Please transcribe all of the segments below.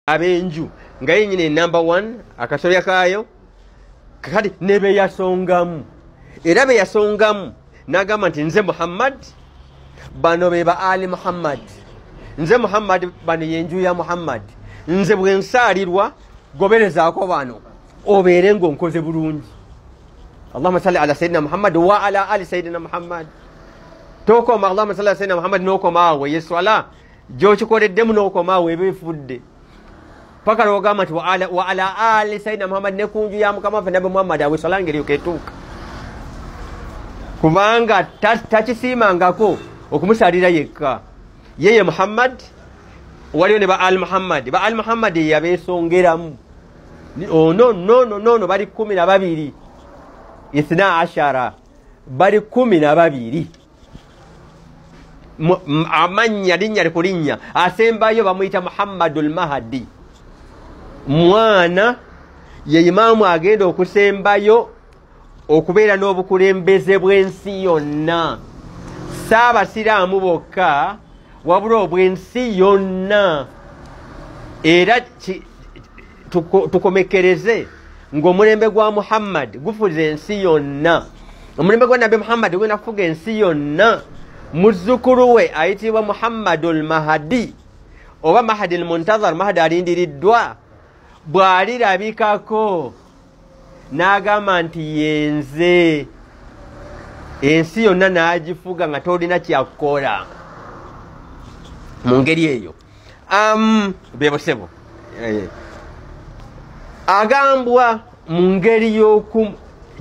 abenju nga yenyini enumber one akasolya kaayo kati nebeyasongamu era beyasongamu nagamba nti nze muhammad bano be ba ali muhammad nze muhammad bano yenju ya muhammad nze bwensaalirwa goberezaako bano obeere ngaonkoze bulungi allahuma salli ala sayidina muhammad wa ala ali sayidina muhammad tokoma allahuma salli ala sayidina muhammad nokomaawo yeswala gyokikoleddemu n'okomaawo eba efudde paka lwogamba nti wa ala ali sayidina muhammadi ne kunju ya mukama waffe nabbi muhammadi awe eswala ngeri yoketuuka kubanga takisiimangako okumusalira yekka yeye muhammadi waliyo ne ba al muhammadi ba al muhammadi yeyabeesongeramu ono oh, nono nono bali kumi na babiri ithna ashara bali kumi na babiri amannya linnya likulinnya asembayo bamuyita muhammadu lmahadi mwana ye imaamu agenda okusembayo okubeera n'obukulembeze bw'ensi yonna si abasiraamu bokka wabula obw'ensi yonna era tukomekereze ng'omulembe gwa muhammad gufuza ensi yonna omulembe gwa nabbi muhammad gugenda kufuga ensi yonna muzzukulu we ayitibwa muhammadu lmahadi oba mahadi lmuntazar mahadi alindiriddwa bw'alirabikako n'agamba nti yenze ensi yonna n'agifuga nga tolina kyakukola mu ngeri eyo um, bebo sebo eh. agambwa mu ngeri y'oku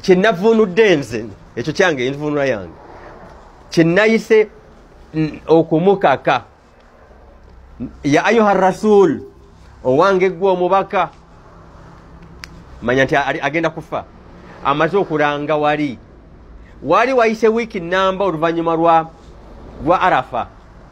kyenavunudde nze ekyo kyange envunula yange kyenayise okumukaka ya ayuha rasul owange gwe omubaka manya nti agenda kufa amaze okulanga wali wali wayise wiiki namba oluvannyuma lwa arafa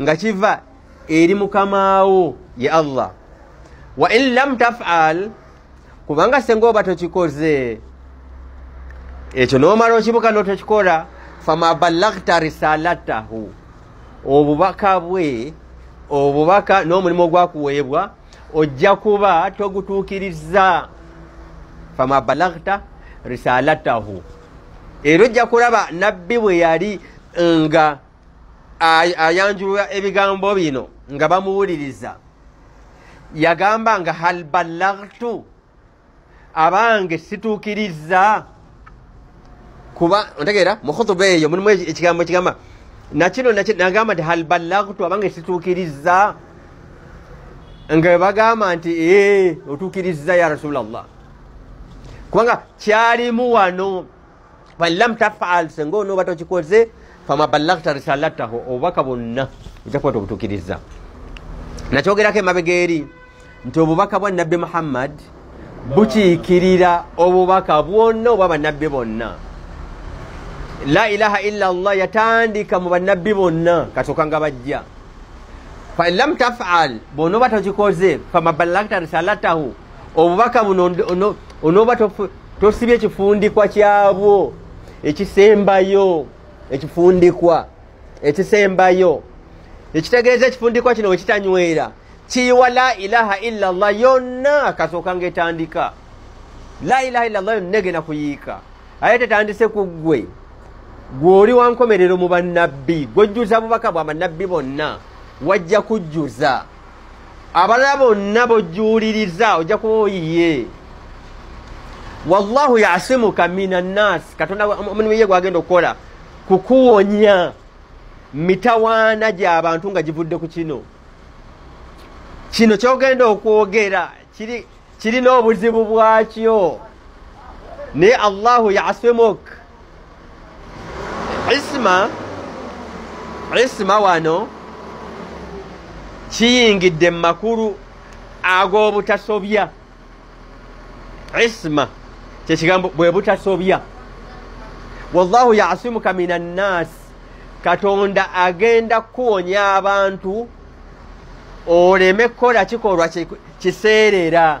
nga kiva eri mukamaawo ye allah wa in lam tafal kubanga senga oba tokikoze ekyo nomala okibuka notokikola fama balagta risalatahu obubaka bwe obubaka n'omulimu ogwakuweebwa ojja kuba togutuukiriza fama balagta risalatahu era ojja kulaba nabbi bwe yali nga ayanjulula ebigambo bino nga bamuwuliriza yagamba nga hal ballagtu abange situukiriza kuba ontegeera mu khutuba eyo mulimu ekigambo ekigamba nakino nagamba nti hal ballagtu abange situukiriza nga webagamba nti ee otuukiriza ya rasulllah kubanga kyalimu wano falam tafal senga onooba tokikoze fama ballagta risalataho obubaka bwonna ojja kuba tobutukiriza nakyogerako emabega eri nti obubaka bwa nabbi muhammad bukiikirira obubaka bwonna obwa bannabbi bonna la ilaha illa llah yatandika mu bannabbi bonna kasooka nga bajja falam tafal bwonooba tokikoze fama ballagta risalatahu obubaka buno onooba tosibye ekifundikwa kyabwo ekisembayo ekifundikwa ekisembayo ekitegeeza ekifundikwa kino wekitanywera kiyiwa la ilaha illa llah yonna kasooka nga etandika la ilaha illa llah yonna egenda kuyiika aye tetandise ku ggwe gw'oli wankomerero mu bannabbi gwojjuza bubaka bwa bannabbi bonna wajja kujjuza abalala bonna bojuuliriza ojja kuba oyiye wallahu yasimuka mina nnaasi katonda omulimu ye gwagenda okukola kukuwonya mitawaana gy'abantu nga givudde ku kino kino kyogenda okwogera kirina obuzibu bwakyo naye allahu yasimuk isma isma wano kiyingidde mu makulu ag'obutasobya isma kyekigambo bwe butasobya wallahu yasimuka min annaasi katonda agenda kuwonya abantu oleme kukola kikolwa kiseerera